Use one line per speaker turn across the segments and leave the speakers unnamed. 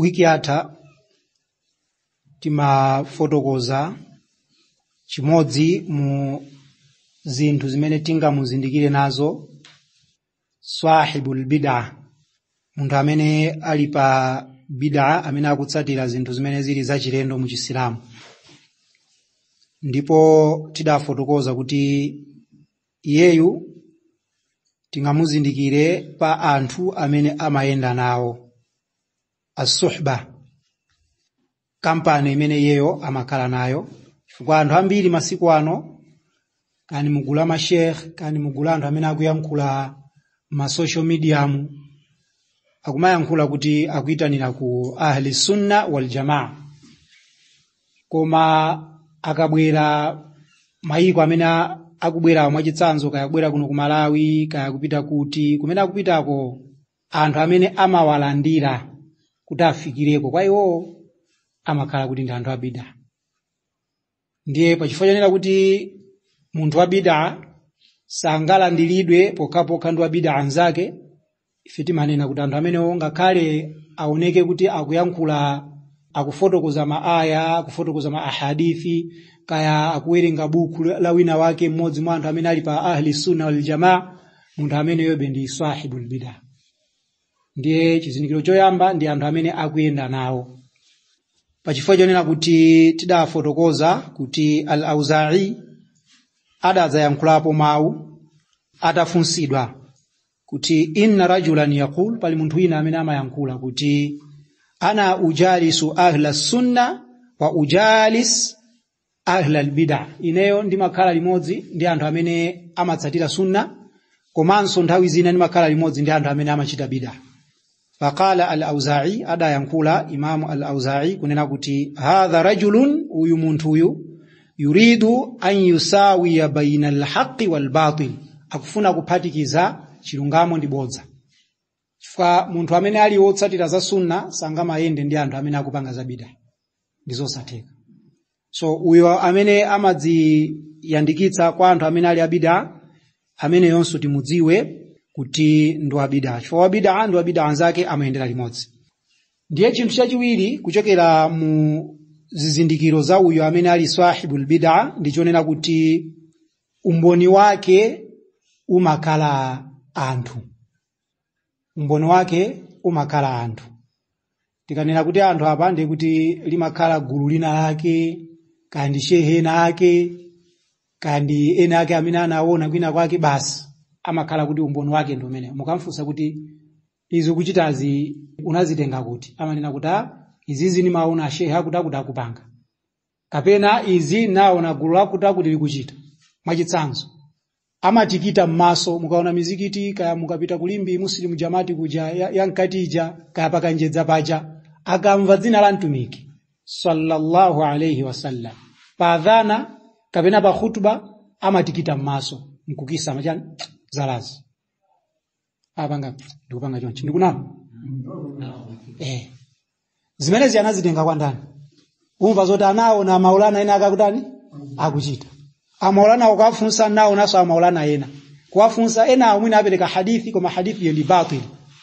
wiki yatha timafotokoza chimodzi mu zinthu zimene tingamuzindikire nazo swahibul bid'a munthu amene ali pa bid'a amene akutsatira zinthu zimene zili zachilendo mu chisilamu ndipo tidafotokoza kuti iyeyu tingamuzindikire pa anthu amene amayenda nawo asuhba kampani imene iyeyo amakhala nayo chifukwa anthu ambiri masiku ano kaya ndi mugulu la mashekh kaya ndi mugulu la anthu amene akuyankhula ma social mediamu akumayankhula kuti akuyitanira ku ahli sunna wal jamaa koma akabwera mayiko amene a- akubwerawo mwachitsanzo kaya kubwera kuno ku malawi kaya kupita kuti kumene akupitako anthu amene amawalandira kuti afikireko kwa iwowo amakhala kuti ndi anthu abida ndiye pachifukwa chonena kuti munthu wabida sangalandiridwe pokhapokha ndi wabida mnzake ife timanena kuti anthu amenewo ngakhale aoneke kuti akuyankhula akufotokoza maaya akufotokoza ma ahadithi kaya akuwerenga buku la wina wake mmodzi mwa anthu amene ali pa ahli sunna wal jamaa munthu ameneyobe ndi sahibul bida ndiye chizindikiro choyamba ndi anthu amene akuyenda nawo pachifukwa chonena kuti tidafotokoza kuti al auzai adadzayankhulapo mawu atafunsidwa kuti inna rajulan yaqul pali munthu wina amene amayankhula kuti ana ujalisu ahla sunna wa ujalis ahla albida ineyo ndimakhala limodzi ndi anthu amene amatsatira sunna komanso nthawi zina ndimakhala limodzi ndi anthu amene amachita bida faqala al-auza'i adayankhula imamu al-auza'i kunena kuti hadha rajulun uyu munthu uyu yuridu an yusawiya baina al-haqqi wal-batil akufuna kuphatikiza chilungamo ndi bodza chifukwa munthu amene ali wotsatira za sunna sangamayende ndi anthu amene akupanga za bid'a ndi zosatheka so uyo amene amadziyandikitsa kwa anthu amene ali abida ameneyonso timudziwe kuti ndi wabida chifukwa wabida ndi wabida mnzake amayendera limodzi ndiye chinthu chachiwiri kuchokera mu zizindikiro za uyo amene ali sahibul bid'a ndichonena kuti umboni wake umakhala anthu umboni wake umakhala anthu tikanena kuti anthu apa ndiye kuti limakhala gulu lina lake kaya ndi shehe ena ake kaya ndi ena ake amene anaona kwina kwake basi amakhala kuti umboni wake ndi umenewo mukamfunsa kuti izi ukuchitazi unazitenga kuti amanena kuti "Ah, izizi ndimaona ashehe akuti akuti akupanga kapena izi naona gulu lakutakuti likuchita mwachitsanzo amatikita m'maso mukaona mizikiti kaya mukapita kulimbi muslim jamati kuja ya- yankati ija kaya pakanjedza paja akamva dzina la mtumiki sallallahu alaihi wasallam pa adhana kapena pa khutba amatikita m'maso nkukisa machani zalazi apanga ndikupanga chonchi ndikunama eh zimenezi anazitenga kwa ndani umva zoti anaona maulana ena akakutani akuchita amaulana ukafunsa naonanso amaulana ena kuwafunsa ena amwene apereka hadithi koma hadithi yo ndi batil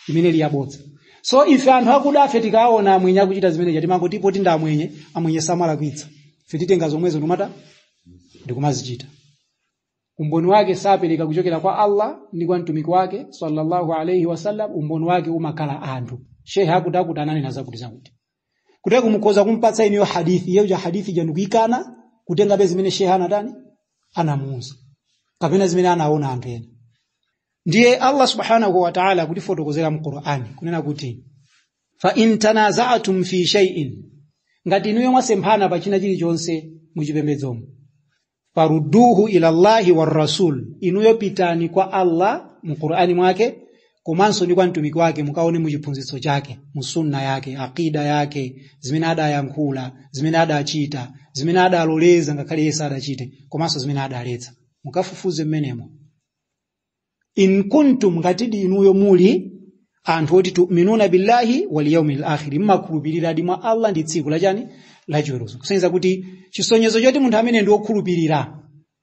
imene liyabodza so ife anthu akuda afe tikaona amwenye akuchita zimenezi timangoti potinda amwenye amwenye samalakwitsa ife titenga zomwezo ndimatani ndikumazichita umboni wake sapereka kuchokera kwa Allah ndi kwa mtumiki wake sallallahu alaihi wasallam umboni wake umakhala anthu shehe akuti akuti ananena zakuti zakuti kutheka kumukhoza kumpatsa inuyo hadithi iyeyo ija hadithi ija nkuikana kutengabe zimene shehe anatani anamuuza kapena zimene anaona anthu ena ndiye Allah subhanahu wa ta'ala akutifotokozera mu Qur'ani kunena kuti fa in tanaza'tum fi shay'in ngati inuyo mwasemphana pa china chilichonse muchipembedzomo farudduhu ila llahi warrasul inuyo pitani kwa allah mu qur'ani mwake komanso ndi kwa mtumiki wake mukaone mu chiphunzitso chake mu sunna yake aqida yake zimene adayankhula zimene adachita zimene adaloleza ngakhale iye sadachite komanso zimene adaletsa mukafufuze mmenemo in kuntum ngatidi inuyo muli anthu oti tuminuna billahi wal yawmil akhir mmakhulupiriradi mwa allah ndi tsiku lachani lachiweruzo kusonyeza kuti chisonyezo choti munthu amene ndi wokhulupirira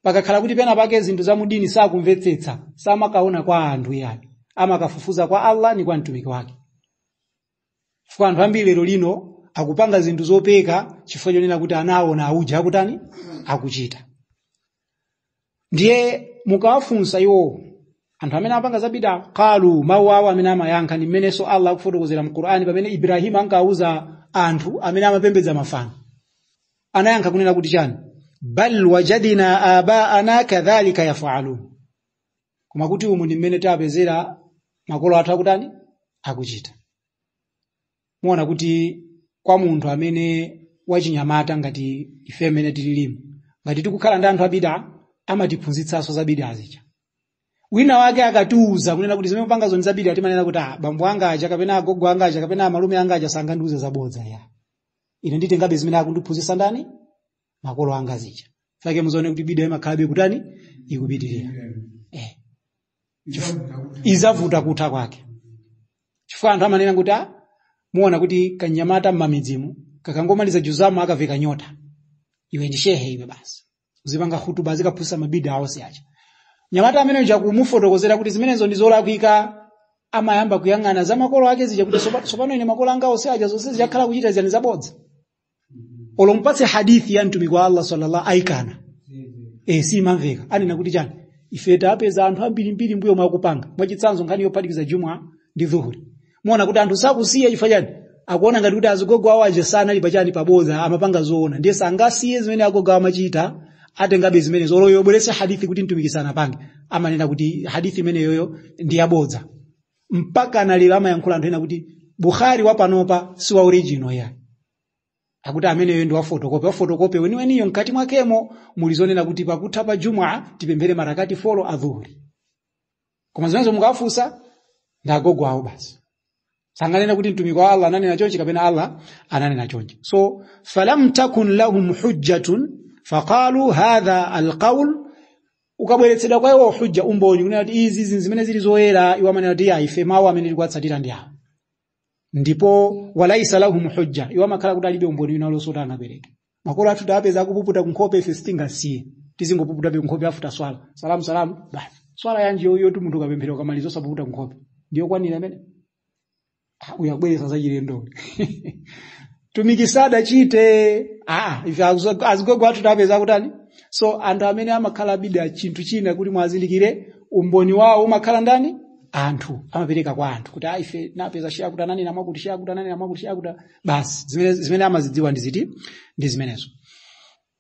pakakhala kuti pena pake zinthu za mudini sakumvetsetsa samakaona kwa anthu yayi amakafufuza kwa allah ni kwa mtumiki wake chifukwa anthu ambiri lero lino akupanga zinthu zopeka chifukwa chonena kuti anawona auja akutani akuchita ndiye mukawafunsa iwowo anthu amene amapanga zabida qalu mawu awo amene amayankha ndi mmenenso allah akufotokozera mu qur'ani pamene ibrahimu ankauza anthu amene amapembedza mafano anayankha kunena kuti chani bal wajadina abaana kadhalika yafalun koma kuti umu ndi mmene tapezera makolo athu akutani akuchita muona kuti kwa munthu amene wachinyamata ngati ife amene tililimu ngati tikukhala ndi anthu abida amatiphunzitsanso za bida azija wina wake akatiuza kunena kuti zimene mupanga zo ndi za bida timanena kuti ah, bambo anga aja kapena agogo anga aja kapena amalume anga aja sangandiuze zabodza ya ine nditengabe zimene akundiphunzitsa ndani makolo anga zija chake muzaona kuti bida imakhalabe kutani ikupitirira eh. izavuta kutha kwake chifukwa anthu amanena kuti ah, muona kuti kanyamata mmamidzimu kakangomaliza juzamu akaveka nyota iwe ndi shehe iwe basi uzipanga hutuba zikaphunzitsa mabida aonse aja mnyamata amene uja kumufotokozera kuti zimenezo ndi zolakwika amayamba kuyang'ana za makolo ake zija kuti "Sopa- sopano ine makolo anga onse aja zonse akakhala kuchita ziyani zabodza olo umpatse hadithi ya mtumiki wa allah sallallahu akana eh simamveka amanena kuti chani ife tapeza anthu ambirimbiri mbuyo mwakupanga mwachitsanzo nkhani yophatikiza juma ndi dhuhuri muona kuti anthu sakusiya chifukwa chani akuona ngati kuti azigogo awo aja sanali pachani paboza amapanga zoona ndiye sangasiye zimene agogo awo amachita atengabe zimene zoloyo obweresa hadithi kuti mtumiki sanapange amanena kuti hadithi imeneyoyo ndi yabodza mpaka analira amayankhula anthu ena kuti bukhari wapanopa si wa original ya akuti ameneyo ndi wafotokope wafotokope weniweniyo mkati mwakemo muli zonena kuti pakutha pa jumwa tipemphere marakaati folo a dhuhuri koma zimenezo mukafunsa ndi agogo awo basi sanganena kuti mtumiki wa allah ananena chonchi kapena allah ananena chonchi so falam takun lahum hujjatun faqalu hadha alqaul ukabweretsedwa kwa iwo hujja umboni kunena kuti izi zinthu zimene zili zoyera iwo amanena kuti ya ife mawu amene tikuwatsatira ndi awa ndipo walaisa lahum hujja iwo amakhala kuti alibe umboni wina uliwonse kuti angapereke makolo athu tapeza akupuputa kunkhope ife sitingasiye tizingopuputabe kunkhope after swala salamu salamu basi swala yanji yoyo kuti munthu ukapemphera ukamaliza osapuputa kunkhope ndiyokwanira imene Ah, uyu akubweretsa zachilendo mtumiki sadachite ah, ife azo- azigogo athu tapeza kutani so anthu amene amakhala a bida chinthu china kuti mwazindikire umboni wawo umakhala ndani anthu amapereka kwa anthu kuti ah, ife tinapeza she akuti ananena mwakuti she akuti ananena mwakuti she akuti basi zimene, zimene amazidziwa ndi ziti ndi zimenezo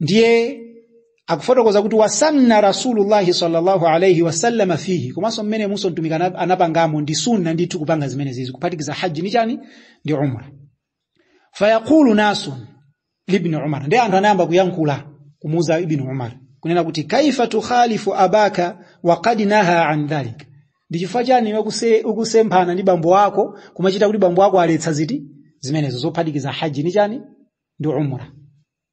ndiye akufotokoza kuti wasanna rasulullahi sallallahu alaihi wasallama fihi komanso mmenemunso mtumiki ana- anapangamo ndi sunna ndithu kupanga zimenezizi kuphatikiza haji ndi chani ndi umra fayaqulu nasun libni umar ndiye anthu anayamba kuyankhula kumuuza ibni umar kunena kuti kaifa tukhalifu abaka wa qad naha an dhalik ndi chifukwa chani iwe kuse- ukusemphana ndi bambo wako kumachita kuti bambo wako aletsa ziti zimenezo zophatikiza haji ndi chani ndi umra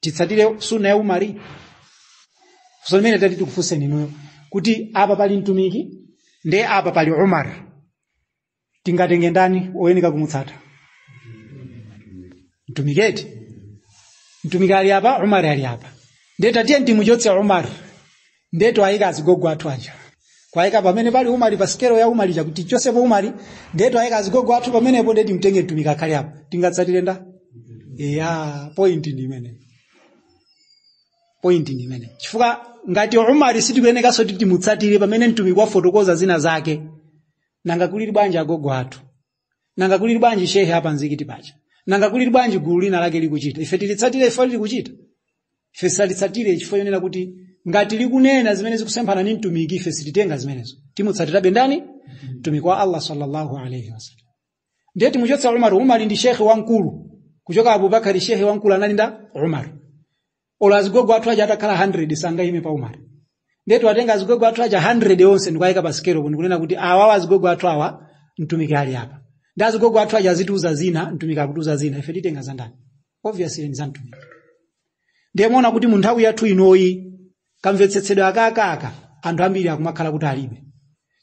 titsatire sunna ya umari funso limene tati tikufunseni inuyo kuti apa pali mtumiki nde apa pali umar tingatenge ndani oyenika kumutsata mtumiki eti mtumiki ali apa umar ali apa nde tatiye timuchotse umar ndiye twayika azigogo athu aja kwayika pamene pali umari pa sikelo ya umari chakuti tichotsepo umari ndiye twayika azigogo athu pamenepo ndiye timtenge mtumiki akhale apa tingatsatire nda ya point ndi imene point ndi imene chifukwa ngati umari sitikuyenekanso kuti timutsatire pamene mtumiki wafotokoza zina zake nanga kulili bwanji agogo athu nanga kulili bwanji shehe a pamzikiti paja nanga kulili bwanji gulu lina lake likuchita ife tilitsatire ife likuchita ife salitsatire chifukwa chonena kuti ngati likunena zimene zikusemphana ndi mtumiki ife sititenga zimenezo timutsatirabe ndani mtumiki wa allah sallallahu alaihi wasallam ndiye timuchotsa umar umar ndi shekhe wamkulu kuchoka abubakari shekhe wamkulu anali nda umar olo azigogo athu aja atakhala 100 sangayime pa umar nde tiwatenga azigogo athu aja 100 onse nkuwayika pa sikelo kuno kunena kuti awawa azigogo athu awa mtumiki ali apa ndi azigogo athu aja azitiuza zina mtumiki akutiuza zina ife titenga za ndani obviously ndi za mtumiki ndiye muona kuti mu nthawi yathu inoyi kamvetsetsedwe akakaka anthu ambiri akumakhala kuti alibe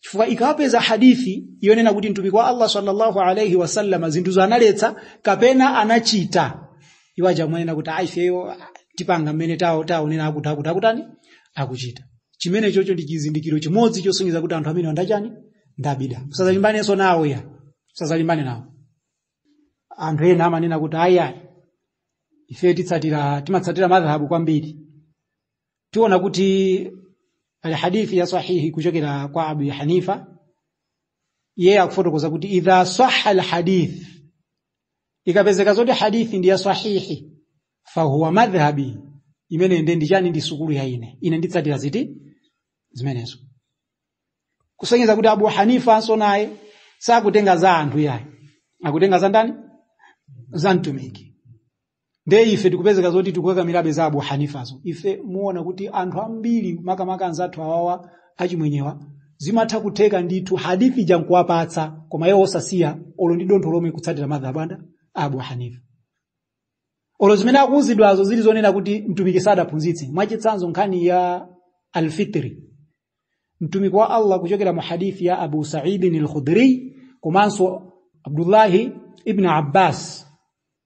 chifukwa ikawapeza hadithi yonena kuti mtumiki wa allah sallallahu alaihi wasallam zinthuzo analetsa kapena anachita iwo aja amanena kuti ayi ifeyo tipanga mmene tawo taonera akuti akuti akutani akuchita chimene chocho ndi chizindikiro chimodzi chosonyeza kuti anthu amene ndi achani nda bida musazalimbanenso nawo ya musazalimbane nawo anthu ena amanena kuti ayi ayi ife titsatira timatsatira madhahabu kwambiri tiona kuti pali hadithi ya sahihi kuchokera kwa abu hanifa iye akufotokoza kuti idha saha alhadith ikapezeka zoti hadithi ndi ya sahihi fahuwa madhhabi imene nde ndi chani ndi sukulu ya ine ine nditsatira ziti zimenezo kusonyeza kuti abu hanifa anso naye sakutenga za anthu yayi akutenga za ndani za mtumiki ndiye ife tikupezeka zoti tikukakamirabe za abu hanifazo ife muona kuti anthu ambiri makamaka anzathu awawa achimwenyewa zimatha kutheka ndithu hadithi ija nkuwapatsa koma iwo osasiya olo ndi dontho lomwe kutsatira madhhabu anda abu hanifa olo zimene akuuzidwazo zili zonena kuti mtumiki sadaphunzitse mwachitsanzo nkhani ya alfitri mtumiki wa allah kuchokera mu hadithi ya abu saidin alkhudri komanso abdullahi ibn abbas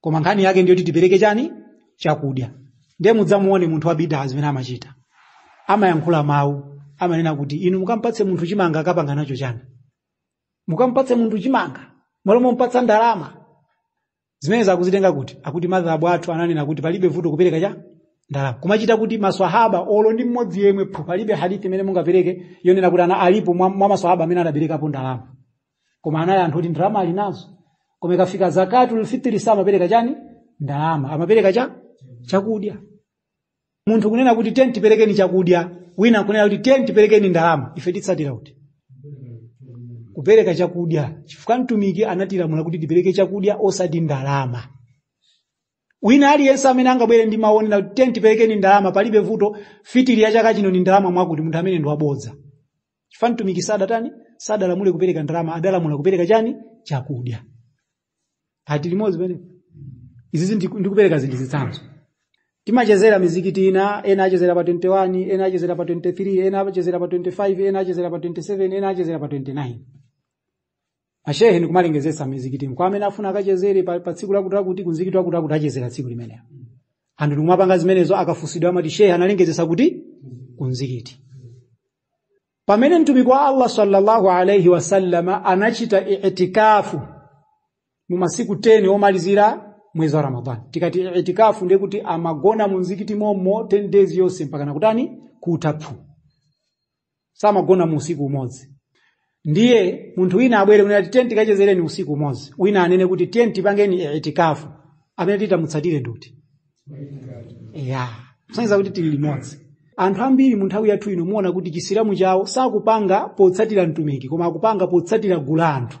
koma nkhani yake ndiyo kuti tipereke chani chakudya ndiye mudzamuone munthu wa bidaa zomwe amachita amayankhula mawu amanena kuti inu mukampatse munthu chimanga akapanga nacho chani mukampatse munthu chimanga malo mompatsa ndalama zimenezo akuzitenga kuti akuti madhhabu athu ananena kuti palibe vuto kupereka cha ndalama kumachita kuti maswahaba olo ndi mmodzi yemwe phu palibe hadithi imene mungapereke yonena kuti ana alipo mwa, mwa maswahaba amene anaperekapo ndalama koma anali anthu kuti ndalama ali nazo koma ikafika zakatu lfitiri samapereka chani ndalama amapereka cha chakudya munthu kunena kuti tiyeni tiperekeni chakudya wina kunena kuti tiyeni tiperekeni ndalama ife titsatira chiti kupereka chakudya chifukwa mtumiki anatilamula kuti tipereke chakudya osati ndalama wina aliyense amene angabwere ndi kumanena kuti tiyeni tiperekeni ndalama palibe vuto fitiri ya chaka chino ni ndalama mwakuti munthu ameneyo ndi wabodza chifukwa mtumiki sadatani sadalamule kupereka ndalama adalamula kupereka chani chakudya tili limodzi apa izizi ndi- ndikupereka zinthu zitsanzo timachezera mizikiti ina ena achezera pa 21 ena achezera pa 23 ena achezera pa 25 ena achezera pa 27 ena achezera pa 29 ashehe ndikumalengezetsa mizikitimu kwa amene afuna akachezere pa, pa tsiku lakuti lakuti kunzikiti wakuti wakuti achezera tsiku limenelo anthu ndikumapanga zimenezo akafunsidwa amati shehe analengezetsa kuti kunzikiti pamene mtumiki wa Allah sallallahu alaihi wasallama anachita i'tikafu mu masiku 10 omalizira mwezi wa Ramadhani tikati i'tikafu ndiye kuti amagona mu mzikiti mommo 10 days yonse mpaka nakutani kutha phu samagona mu usiku umodzi ndiye munthu wina abwere kunena kuti tiyeni tikachezereni usiku umodzi wina anene kuti tiyeni tipangeni itikafu amene titamutsatire ndi uti ya kusonyeza kuti tili limodzi anthu ambiri mu nthawi yathu ino muona kuti chisilamu chawo sakupanga potsatira mtumiki koma akupanga potsatira gulu la anthu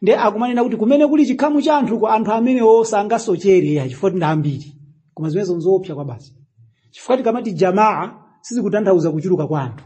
nde akumanena kuti kumene kuli chikhamu cha anthuko anthu amenewo sangasochere ya chifukwa ndi ambiri koma zimenezo nzoopsa kwabasi chifukwa tikamati jamaa sizikutanthauza kuchuluka kwa anthu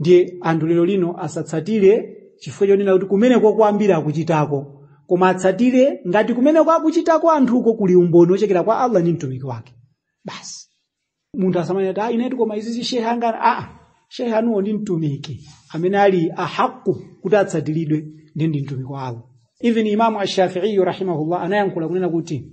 ndiye anthu lero lino asatsatire chifukwa chonena kuti kumeneko ambiri akuchitako koma atsatire ngati kumeneko akuchitako anthuko kuli umboni wochokera kwa allah ndi mtumiki wake basi munthu asamanena kuti "Ah, inetu koma izizi shehe anga aa shehe anuwo ndi mtumiki amene ali ahaku kuti atsatiridwe ndi ndani ndi mtumiki wa allah even imamu ashafiiyu rahimahullah anayankhula kunena kuti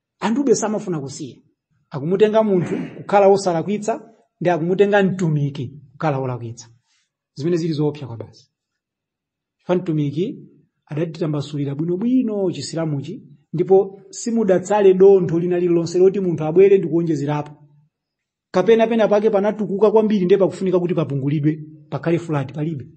anthube samafuna kusiya akumutenga munthu kukhala wosalakwitsa ndi akumutenga mtumiki kukhala wolakwitsa zimene zili zoopsa kwabasi chifukwa mtumiki adatitambasulira bwinobwino chisilamuchi ndipo simudatsale dontho lina lililonse loti munthu abwere ndi kuonjezerapo kapena pena pake panatukuka kwambiri ndiye pakufunika kuti papungulidwe pakhale flat palibe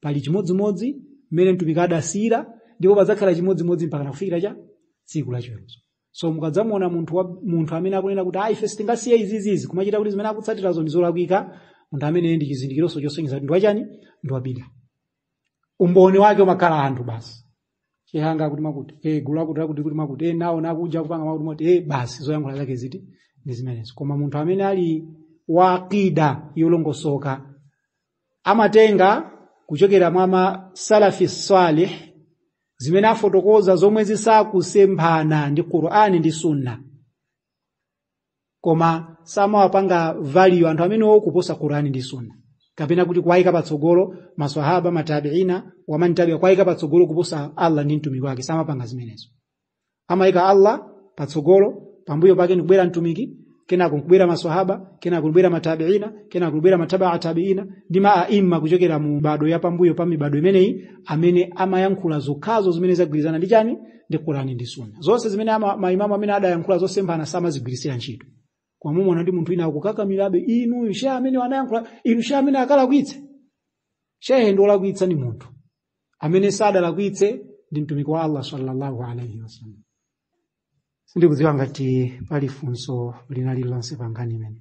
pali chimodzimodzi mmene mtumiki adasiyira ndipo padzakhala chimodzimodzi mpaka nakufikira cha tsiku la chiweruzo so mukadzamuona munthu wa, munthu amene akunena kuti ayi ife sitingasiye izizizi kumachita kuti zimene akutsatirazo ndi zolakwika munthu ameneyo ndi chizindikironso chosonyeza kuti ndi wachani ndi wabida umboni wake umakhala anthu basi chihanga akuti makuti e gulu akuti akuti kuti makuti e nawo nakuja kupanga makuti moti e basi zoyankhula zake ziti ndi zimenezo koma munthu amene ali wa aqida yolongosoka amatenga kuchokera mwa masalafi salih zimene afotokoza zomwe zisakusemphana ndi qur'ani ndi sunna koma samawapanga value anthu amenewo kuposa qurani ndi sunna kapena kuti kuwayika patsogolo maswahaba matabiina wamantabiwa kuwayika patsogolo kuposa allah ndi mtumiki wake samapanga zimenezo amayika allah patsogolo pambuyo pake ndikubwera mtumiki kenako nkubwera maswahaba kenako kubwera matabiina kenako kubwera matabaa tabiina ndi maimamu kuchokera mu mibado ya pambuyo pa mibado imeneyi amene amayankhula zokhazo zimene zagwirizana ndi chani ndi qurani ndi sunna zonse zimene ama- maimamu amene adayankhula zosemphana samazigwiritsira ntchito koma mumaona ndi munthu wina akukakamirabe inu shehe amene anayankhula inu shehe amene akalakwitse shehe ndi olakwitsa ndi munthu amene sadalakwitse ndi mtumiki wa allah sallallahu alaihi wasallam sindikudziwa ngati pali funso lina lililonse pa nkhani imene